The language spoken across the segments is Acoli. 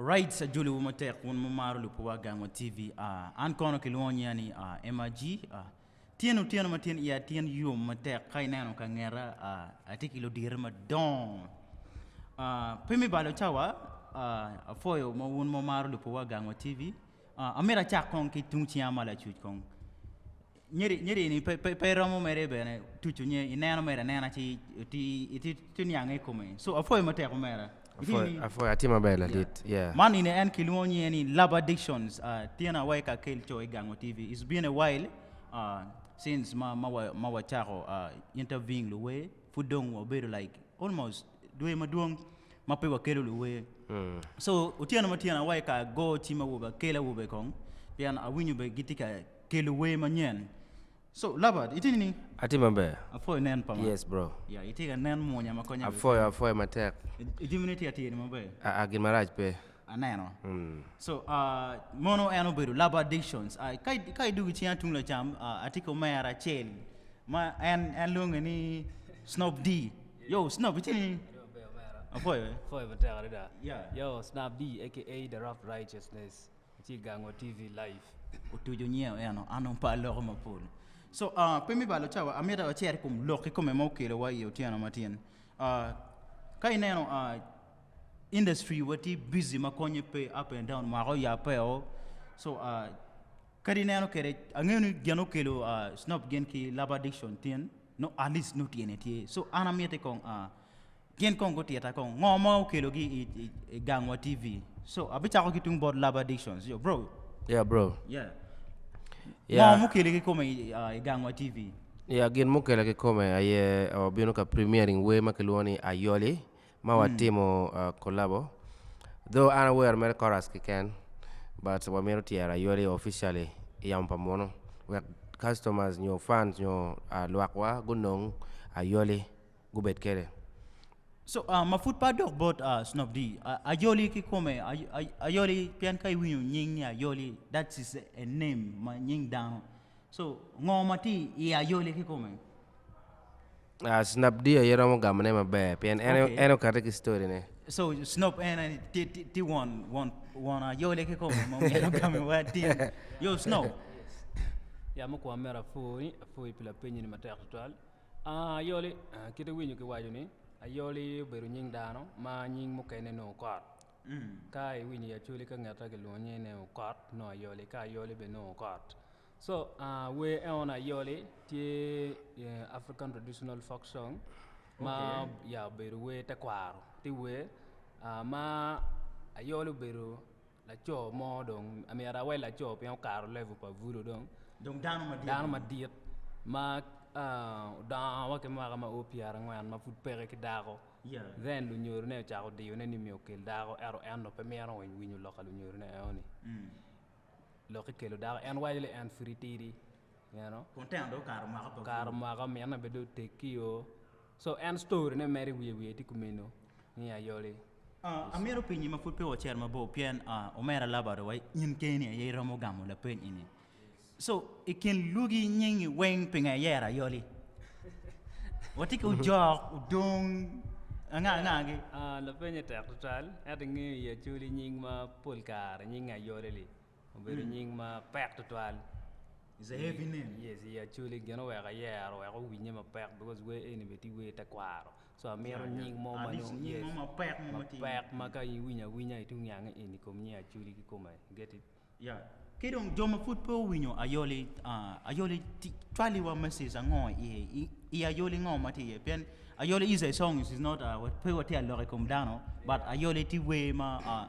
Alright ajoli wu matek wun mumaro lupuwa gangwa TV uh, an kono kilwongo nya ni uh, MRG uh, tyen otyeno ma tyen iya tyen yom matek ka ineno ka ngeta uh, atye ki ludire madongo uh, pe mi balo cawa uh, afoyo ma wun mumaro lupuwa gangwa TV uh, amira cak kong ki tung ciya ma lacuc kong Nyeri-nyeri-ni pe iromo mere bene tucu nye, ineno mere anena ci itye niange i kome. So apwoyo matek omera. Apwoyo atye maber ladit. Yeah. Man eni en kilwongo nyinge ni Love Addictions. Uh, tyen awa i Kakel Cho i Gango TV. It's been a while uh, since ma, ma, wa, ma wacako uh, interviewing luwe. Pud dong wabedo like almost dwe madwong ma pe wakelo luwe. Mm. So otyeno ma tyen awa i ka go cim awobe akela awobe kong pien awinyo be gitye ka Kelo wer manyen. So, Labert, itye nining? Atye maber. Apwoyo inen pa ma. Yes, bro. Ya, itye ka nen mwonya ma konya keken. Apwoyo, apwoyo matek. I jami-ni tye atir maber? Aa, gin marac pe. Aneno. So, mono en obedo Labert Dixons. Ka, ka idwogo i cinga tung lacam, atye ki omera acel ma en, en lwonge ni Snob D. Yo, Snob, itye nining? Apwoyo. Apwoyo matek adada. Ya. Yo, Snob D, aka The Rough Righteousness. Ci gango TV live. Otuco nyeo eno an on par loko mapol. So uh, pe mi balo cawa, amita wacer kum lok kikome ma okelo wa i otyeno matin. Uh, ka ineno uh, industry wa ti busy ma konye pe up and down mwako ya pe o. So uh, kadi ineno kere, angeyo ni gen okelo uh, snob gen ki love addiction tin, no at least no tyene tye. So an amiti kong uh, Gin kong gutita kong ngo ma okelo gi i, i, i gangwa TV. So abichako ki tung bot love addictions. Yo bro. Yeah bro. Yeah. Yeah. Ngo mukele ki kome i, uh, i gangwa TV. Yeah, gin mukele ki kome aye uh, bino ka premiering wer ma kilwongo ni Ayoli ma mm. watimo uh, collabo. Though an awero mere chorus kiken but wamito tyero Ayoli officially i yamo pa muno wek customers nyo fans nyo uh, lwakwa gunong Ayoli. gubed kede. So, uh, ma pud pe adok bot uh, Snob D, uh, Ayoli kikome, ay, ay, Ayoli, pien ka iwinyo nying ni Ayoli, that is a, a name, ma nying dano. So, ngo ma ti i Ayoli kikome? Uh, Snob D aye romo gamone maber, pien en, Okay. en okate ki story ne. So, Snob en eh, ti, ti, ti won, won, won Ayoli kikome ma myero ogame wa tin. Yo, Snob. Ya mukwa mera apwoyi, apwoyi pi lapeny ni matek tutwal. Ayoli, kit iwinyo ki waco ni ayoli obedo nying dano ma nying mukene ni okot. Ka iwinyo i Acholi ka ngeta ki lwongo nyinge ni okot nongo ayoli ka ayoli bene nongo okot. So ah wer eno ni ayoli tye African traditional folk song ma ya obedo wer tekwaro ti wer ma ayoli obedo Laco mo dong myero awel laco pien okato level pa bulu dong dano madit ma odongo wa ki mwaka ma o pyerangwen ma pud peke ki dako then lunyorone ocako diyone ni myero okel dako ento en dong pe mito winyo lok pa lunyorone enoni lokke kelo dako en waco ni en pud tidi you know okato mwaka omyero en bene dong otegio. So en story ne mere wiye wiye tye kumeno ni ayole. Ah, amito penyi ma pud pe wacito mabor pien ah, omera laba ado wa in keni aye iromo gamo lapeny eni. So, i kin lwogi nyingi weng pinga iyero ayoli? Watye ki ojok, odong, anga anga gi? Ah, lapenye tek tutal, ento ingeyo i acholi nying ma pol kare nyinge ayole li. Obedo nying ma pek tutwal i Acholi gin oweko ayero wek owinye mapek bikos wer eni bene tye wer tekwaro so amito nying mo mapek ma ka iwinyo awinya itung nyange eni i kom nying Acholi ki kome i get it? Ki dong jo ma pud pe owinyo Ayoli, Ayoli cwaliwa mesej ango iye? I Ayoli ngo ma tye iye? Pien Ayoli is a song is not pe watye ka lok i kom dano but Ayoli tye wer ma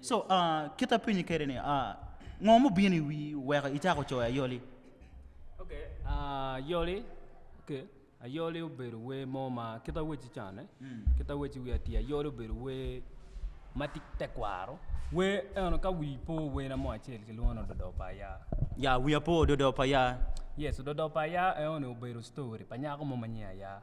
So, uh, kit apenyi kede ni, uh, ngo mubino i wi weko icako coyo ayoli? Okay, uh, ayoli, okay, ayoli obedo wer mo ma kit aweci cane, mm. kit aweci wi ati ayoli obedo wer ma ti tekwaro, wer eno ka wi po werna mo acel kilwongo ni ododo pa ya. Ya, wi apo ododo pa ya. Yes, ododo pa ya eno ni obedo story pa nyako mo ma nyinge ya.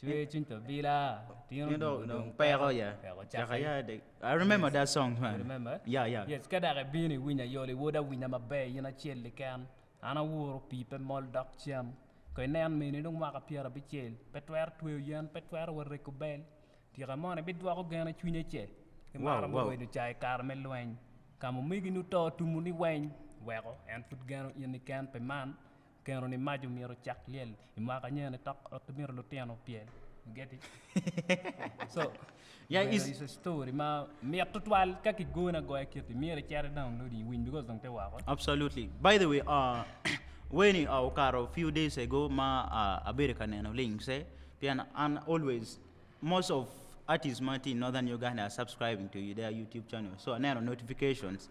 Cwer cwiny pa bila, tino Tino dong- dong peko, yeah. peko Caka, cake. yeah, they- I remember that song, man. Remember? Yeah, yeah. Yes, ka dok ibino iwinyo ayoli wod awinya maber in acel keken. An awuro pii pe mol dok cen. Ka inen mini dong mwaka pyerabicel, pe twero tweyo yen, pe twero wa rego bel. Tika mono ibidwoko gen i cwinye ce? Ki Wow, maro me wow. wedo ca i kare me lweny. Ka ma omegini oto tumoni weng, weko en pud geno in keken pi man. Keno ni maco myero ocak lyel i mwaka anyone tok wek ki mito lutino pyel you get it so Yeah, is- it's a story ma mit tutwal ka ki gone agoya kiti myero icit i downloading iwiny because dong te woko Absolutely. By the way, uh, weni uh, okato few days ago ma uh, abedo ka neno links eh, pien an always most of artists ma tye i Northern Uganda are subscribing to their YouTube channel. So aneno notifications.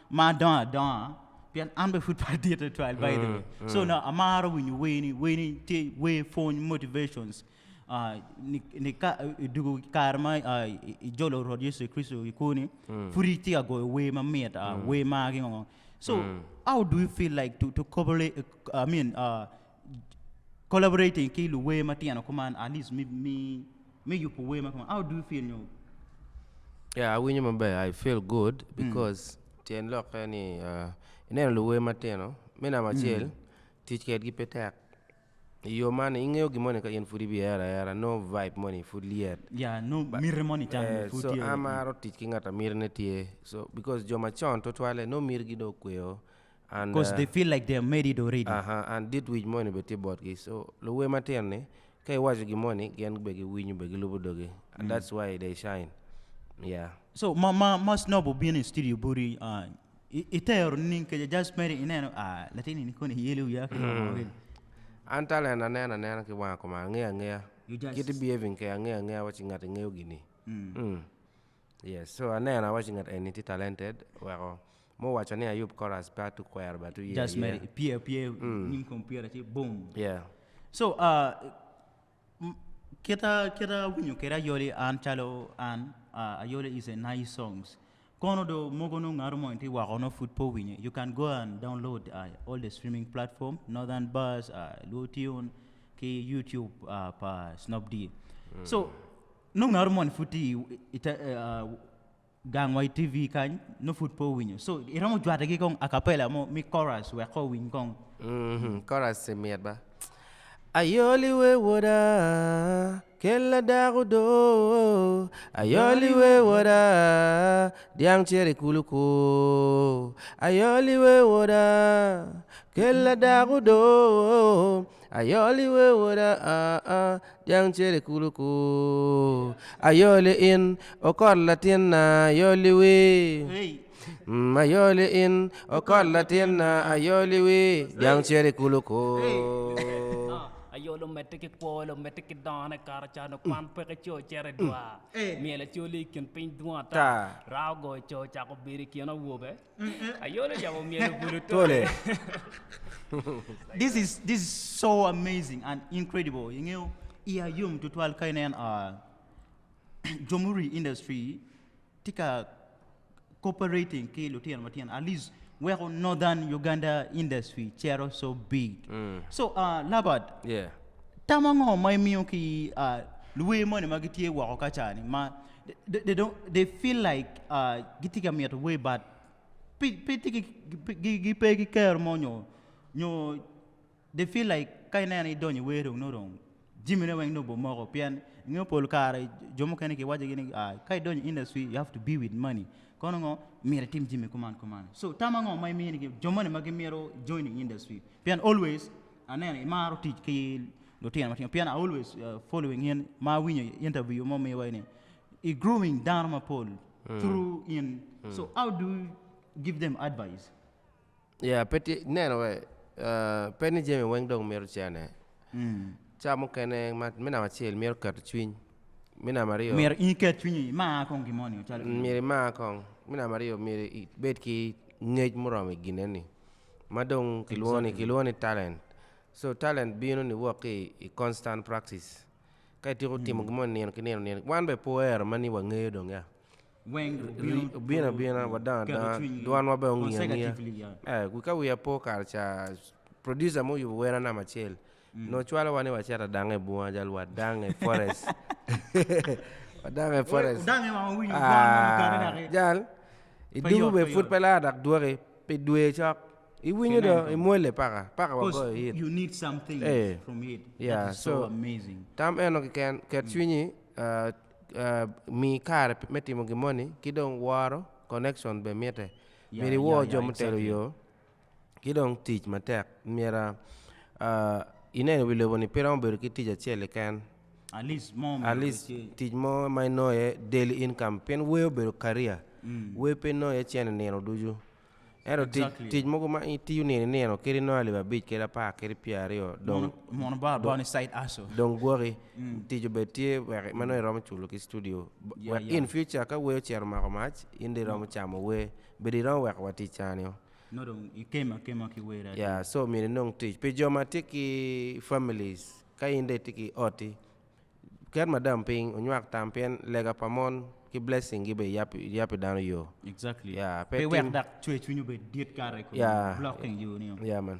ma adongo adonga pien an bene pud pe adit tutwal by the way so nongo amaro winyo wer ni wer ni tye wer pwony motivations ah, ni- ni ka i dwogo kare ma ah, i- ijolo rwot yecu kricito i kwoni pud itye ka goyo wer mamit ah, wer magi ngo so how do you feel like to, to coverly, I mean, uh, Collaborating ki luwer matino kuman at least me me me yubo wer ma kuman. How do you feel nyo? Yeah, awinyo maber. I feel good because tyen lokke ni ah, ineno luwer matino me namba acel tic kedgi pe tek. I yo man ni ingeyo gin moni ka in pud ibihero ahera no vibe moni pud lyet. Yeah, no miti moni can Eh, pud so tye. amaro tic ki ngat ma mitine tye so because jo macon tutwalle nongo mitigi dong okweyo cause they feel like they made it already. Aha, and dit wic moni bene tye botgi. So luwer matino ni ka iwaco gin moni gin bene giwinyo bene gilubo dogi and mm. that's why they shine. Yeah. So ma ma ma snob obino i studio body uh, itero ning ke just made it ineno ah latini ni koni yelo wiya ki mm. An talent anena anena ki wanga kuma angeya angeya. Kiti behaving ke angeya angeya wachi ngati ngeyo gini. Mm. Mm. Yes so aneno awaci ngat eni tye talented weko mo waco ni ayub coras pe atu kwero batu ye just mere i pye pye nyim computer ci boom yeah so kita kita awinyo kede ayoli an calo an ayoli is a nice songs kono do mogo nongo ngato mo tye woko nongo pud pe owinyo you can go and download all the streaming platform northern buzz luo tune ki youtube pa snop dee so nongo aro moni pud tye i te gang wa i TV kany nongo pud pe owinyo so iromo jwate gi kong akapela mo mi chorus wek ko owiny kong. Mhm chorus i mit ba. Ayoli we woda kel ladak odo Ayoli we woda dyang cito i kulu ku Ayoli we woda kel ladak odo Ayoli we woda ah ah Jang cere kulu ku ayoli in, okot latinna ayoli wi, mm ayoli in, okot latinna ayoli wi, jang cere kulu ku. Ayolo medde ki kwolo, medde ki dongone kato cano kwan peke co cere dwa. Myel acoli i kin piny dwong ata, raa ogoyo co cako bedo i kin awobe. Ayolo cako myelo bulu tole. this is this is so amazing and incredible. Ingeyo iya yom tutwal ka inen uh, jomuri industry tye ka cooperating ki lutino matino at least weko northern Uganda industry cero so big. Mm. So uh, Labad, Yeah. tamo ngo ma imiyo ki uh, luwe moni ma gitye woko kacani ma They feel like gitye ka mito way but gipe ki kero mo nyo they feel like ka ineno idonyo i wer dong nongo dong jimine weng nongo obomoko pien ingeyo pol kare jo mukene kiwaco gini ka idonyo i industry you have to be with money kono ngo myero itim jami kuman kuman so tam ango ma imiyo jo moni ma gimito joining industry pien always Aneno imaro tic ki lutino matino pien I always following in ma awinyo interview ma omiwa eni I growing dano mapol through in so how do you give them advice? Yeah, pe tye neno we eh, pe ni jami weng dong mito cene ca mukene ma me namba acel mito keto cwiny me namba aryo Myero in iket cwinyi imar kong gin moni calo gin moni. myero imar kong me namba aryo myero ibed ki ngec muromo i gine ni Ma dong kilwongo ni, kilwongo ni talent. So talent bino niwok ki i constant practice. Ka ityeko timo gin mo nino ki nino nino, wan bene pe wero ma ni wangeyo dong ya. Obino abina, wadongo adonga, dwanwa bene ongiyo angiya. Ee, wi ka wiya po kare ca, producer mo oyubo wer anamba acel, Nongo cwalowa ni wacit adange i bunga jal wadange forest wadange forest jal i dugu be pud pe laa dok dwoki pi dwe cok i winyo do i mwole paka paka wagoyo hit ya so tam eno keken ket cwinyi mi kare me timo gin moni ki dong woro connection be mite myero iwor jo mutelo yo. ki dong tic matek myero ineno wi lobo ni pe romo bedo ki tic acel keken atleast tic mo ma inongo iye daily income pien wer obedo career wer pe inongo iye cente nino ducu ento tic mogo ma itiyo nino ki nino kadi inongo alip abic kadi apar kadi pyera aryo dong gwoki tic obed tye wek ma nongo iromo culo ki studio wek in future ka wer ocito omako mac in dong iromo camo wer bedi iromo weko wa tic cani-o. Ya so myero inong tic pi jo ma tye ki families ka in dong itye ki oti ket madam piny onywak tam pien lega pa mon ki blessing gi bene yab pi dano yo ya man.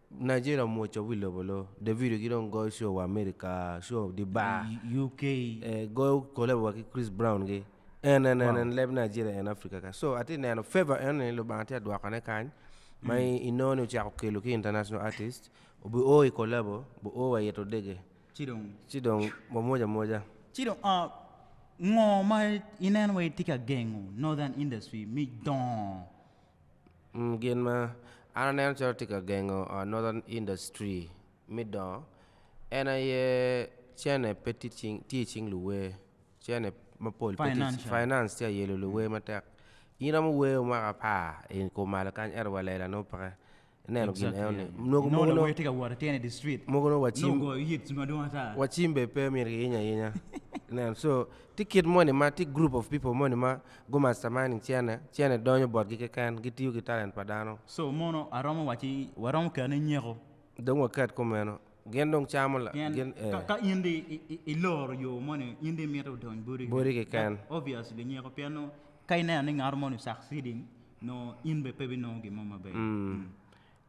Nigeria omwoco wi lobo lo. Davido ki dong goyo show wa America show di bar. UK. Eh, goyo collab wa ki Chris Brown gi. En en en en leb Nigeria en Africa ka. So atye neno favor eno ni Lubanga tye adwokane kany ma i- inongo ni ocako kelo ki international artist obi o i collabo bu o wa ito dege Ci dong ci dong wamwoc amwoca. Ci dong ah, ngo ma ineno wai tye ka gengo Northern industry mi dongo Gin ma an aneno calo tye ka gengo northern industry me dongo en aye cene pe tye i cing luwer cene mapol pe tye finance tye ka yelo luwer matek in iromo wer mwaka apar i kom malo kany ento wa lela nongo peke. Ineno gin eno ni. Nongo mogo nongo tye ka wot ki tyene di street. Mogo nongo wacim. Nongo ogoyo yit madwong ata. Wacim be pe myero ki yiny ayinya. Ineno so tye kit moni ma tye group of people moni ma gu masterminding cene, cene donyo botgi keken, gitiyo ki talent pa dano. So mono aromo wacci waromo kene nyeko. Dong waket kumeno. Gin dong camo la gin Pien eh. ka, ka in di i- i- iloro yo moni, in di imito odony boti Boti keken. That keken. obviously nyeko pien nongo ka ineno ni ngato moni succeeding, nongo in bene pe binongo gin mo maber. Mm.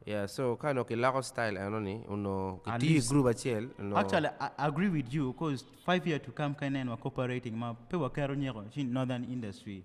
Yeah, so ka nongo kiloko style eno ni onongo At kitiyo i least- group acel onongo Actually, I I agree with you cause five year to come ka ineno wa cooperating ma pe waketo nyeko ci northern industry.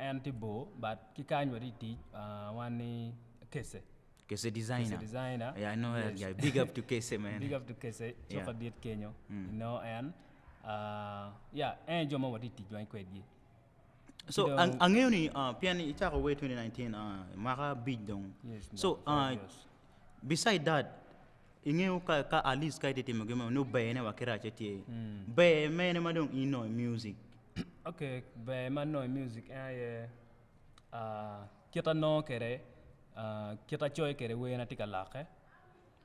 En tye bor but ki kany wa tye tic wan ni kece. Kece designer. Kece designer. Yeah, I know yes. that guy. Big up to Kece, man. Big up to Kece. Cuk yeah. adit kenyo. Mm. You know, and uh, yeah, en jo ma wati tic wany kwedgi. So, ang ang'eyo ni uh, pian icako way 2019 uh, maka bic dong. Yes, so, uh, Beside that, ingeyo ka, ka at least ka ite timo gin mo, nongo bene wa ki racce tye. Ber mene ma dong ino i music? Okay, ber ma nongo i music en aye ah, kit anongo kwede ah, kit acoyo kwede werna tye ka lokke.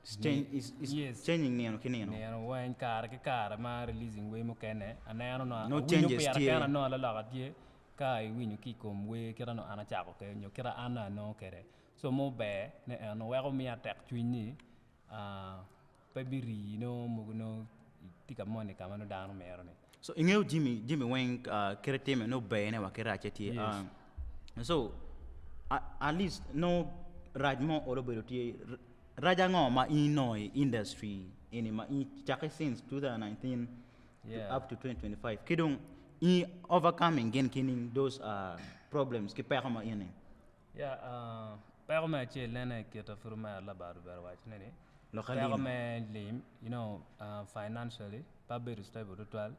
It's change- it's- it's Yes. changing nino ki nino. Nino weng kare ki kare ma releasing wer mukene aneno nongo No awinyo changes pira tye. kena nongo laloka tye ka iwinyo ki i kom wer kit ma nongo an acako kwede nyo kit ma an nongo anongo kwede. Somo ber ne en weko miya tek cwiny ni pe bi rii nongo mogo nongo itye ka moni kama nongo dano mito ni. So ingeyo jimi jimi weng kite time nongo ber ne wa ki race tye yes. So at least nongo rac mo olo bedo tye rac ango ma in nongo i industry eni ma in cake since 2019 yeah. up to 2025 ki dong in overcoming gin kining those uh, problems ki peko ma in ni Ya, peko me acel en aye kit apuru me ot labadde obed owaco ni peko me lim you know financially pe abedo stable tutwal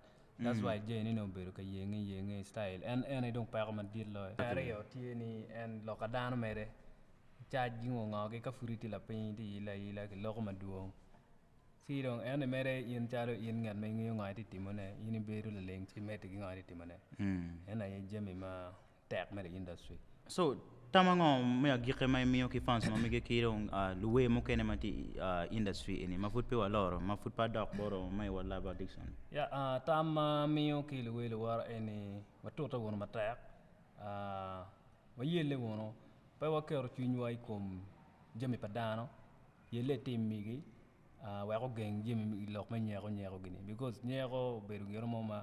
that's why Jay ni nongo obedo ka yenge yenge style en en aye dong peko madit loyo. Me aryo tye ni en lok pa dano mere cac gi ngo ngo gi ka pud itye lapiny itye ilo aila ki loko madwong ci dong ento mere in calo in ngat ma ingeyo ngo aye tye timone in ibedo laleng ci imedde ki ngo aye tye timone en aye jami ma tek mere i industry. So, tam ango me agikki ma imiyo ki fans ma mege ki dong luwer mukene ma tye i industry eni ma pud pe waloro, ma pud pe adok bot oo me World Love Addiction ni? Ya, tam ma amiyo ki luwer luwora en ni watute wunu matek, wayelle wunu, pe waketo cwinywa i kom jami pa dano, yelle i tim migi, wek ogeng jami i lok me nyeko nyeko gini bikos nyeko obedo gin mo ma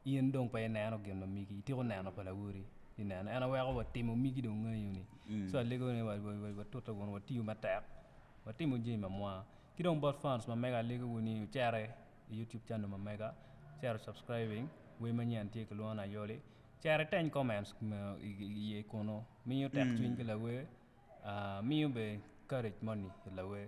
in dong pe ineno gin ma migi ityeko neno pa lawoti ineno en aye weko wa timo migi dong ngeyo ni so alego ni watute kunu watiyo matek watimo jami ma mwa ki dong bot fans ma mega alego wa ni wucere i YouTube channel ma mega wucit wu subscribing wer ma nyen tye kilwongo ni ayoli cere iteng comments iye kunu miyo tek cwiny ki lawer miyo bene courage moni i lawer.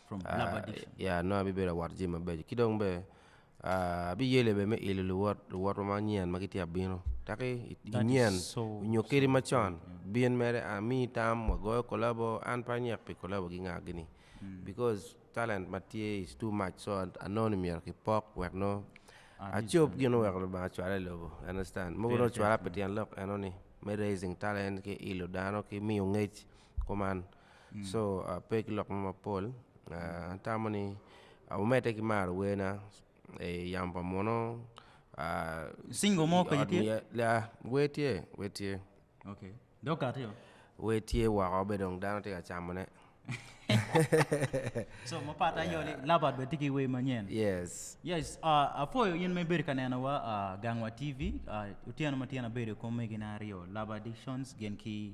ya nongo abibedo awot jami mabeco ki dong bene abiyele bene me ilo luwot wa manyen ma gitye ka bino dok inyen nyo kadi macon bin mere amiyi tam wagoyo kolabo an pe anyek pi kolabo gi nga gini bikos talent ma tye is too much so anongo ni myero kipok wek nongo acob gin ma oweko Lubanga ocwala i lobo you understand mogo nongo ocwala pi tyen lok enoni me raising talent ki ilo dano ki miyo ngec kuman so pe ki lok mo mapol atamo ni omedde ki maro werna yamo pa muno Singo mo kany tye? ya wer tye wer tye dong okati o? wer tye woko be dong dano tye ka camone so ma patte aye ni Labat bene tye ki wer manyen yes yes apwoyo in ma ibedo ka nenowa gangwa TV otyeno ma tyen abedo ki omegina aryo Labat Dictions gin ki